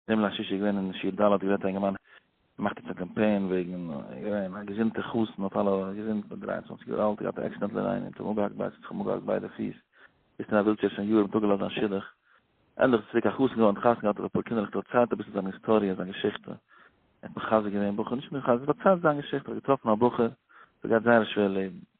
דעם ליל שישי איז געווען אין שיעור ד' גערעדט א אינגערמאן ער מאכט יעצט א קאמפיין וועגן געווען א געזונטע חתן האט אלע געזונט מיט דרײַ און צוואַנציק יאר אלט געהאט א עקסידענט ליין און האט זיך אפגעהאקט ביידע זיך אפגעהאקט ביידע פיס זיצט אין א ווילטשעיר שוין יארן האט אפגעלאזט זיין שידוך ענדליך איז צוריק א חתן געווארן האט חתונה געהאט האט אפאר קינדערלעך דערציילט אביסל זיין היסטאריע זיין געשיכטע ער האט מחזק געווען בחור נישט מחזק דערציילט זיין געשיכטע ער האט געטראפן א בחור וואס גייט זייער א שווער לעבן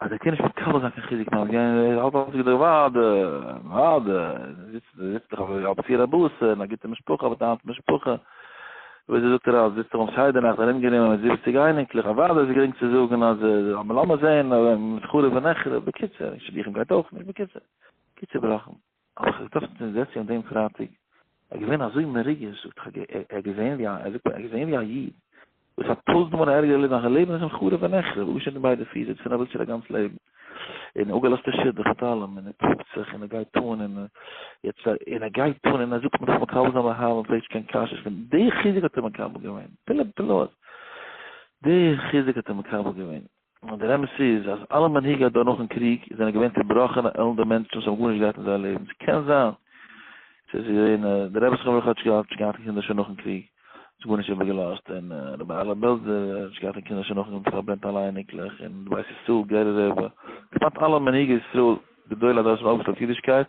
אז ער קען נישט מקבל זיין קיין חיזוק נאר גיין ער האלט אלץ געדער וואדע וואדע זיצט זיצט דאך אויף אלץ פיר אבות און א גוטע משפחה אבער דיין משפחה ווי זי זאגט ער אז זיצט ער אום שיידע נאכט ארום גענומען מיט זיבעציג אייניקלעך א וואדע איז גרינג צו זאגן אז לאמיר זען מיט חרוב ונחרב בקיצור שידוכים גייט אויך נישט בקיצור קיצור בלאכן האב איך געטראפן צום זעצי אן דעם פרייטאג, ער איז געווען אזוי מרוגש, זאגט איך, ער האט געזען ווי א, ער זאגט מיר, ער האט געזען ווי א איד, וואס האט טויזנט מאל א ערגערע לעבן, זיין לעבן איז אים חרוב ונחרב, אפגעשניטן די ביידע פיס, זיצט אין א ווילטשעיר א גאנץ לעבן, און אפגעלאזט די שידוך מיט אלעם, און ער קריגט זיך, און ער גייט אן, און יעצט, און ער גייט אן, און ער זאגט מ'דארף מקבל זיין באהבה, מען פרעגט נישט קיין קשיות, און די חיזוק האט ער מקבל געווען, פלא פלאות, די חיזוק האט ער מקבל געווען. נאר דער אמת איז אז אלע מנהיגי הדור נאכן קריג זענען געווען צובראכענע עלנדע מענטשן וואס האבן גארנישט געהאט אין זייער לעבן. ס'קען זיין ס'איז געווען די רבי זכרונו לברכה האט נישט געהאט קיין קינדער שוין נאכן קריג, האט גארנישט איבערגעלאזט, און רבי אהרלע בעלזער האט נישט געהאט קיין קינדער שוין נאכן פארברענט אלע אייניקלעך, און די בית ישראל גערער רבי, כמעט אלע מנהיגי ישראל גדולי הדור האבן אויפגעשטעלט אידישקייט,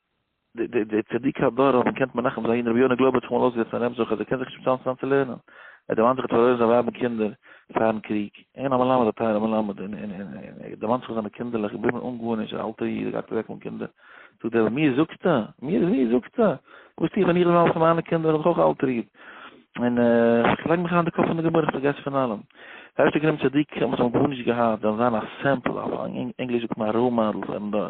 די די צדיקי הדור האבן געקענט מנחם זיין רבי יונה גלאבער האט זיך אמאל אויסגעזעצט פאר אים זאגט אז ער קען זיך נישט באצאלן צוזאם צו לערנען ער דערמאנט זיך ער האט פארלוירן זיין ווייב און קינדער פארן קריג אין א מלמד א טייערע מלמד און און און און ער דערמאנט זיך זיינע קינדערלעך געבליבן אן גארנישט א אלטע איד גייט אוועק אן קינדער זאגט דער רבי מיר זאגסטו מיר מיר זאגסטו וואס טו איך ווען איך זאל האבן מיינע קינדער וועל איך אויך א אלטער איד און איך לייג מיך אריין די קאפ פון די גמרא איך פארגעס פון אלעם ערשטע גרים צדיקים וואס האבן גארנישט געהאט וועלן זיין א סעמפל אויף ענגליש זאגט מען א ראול מאדעל פארן דור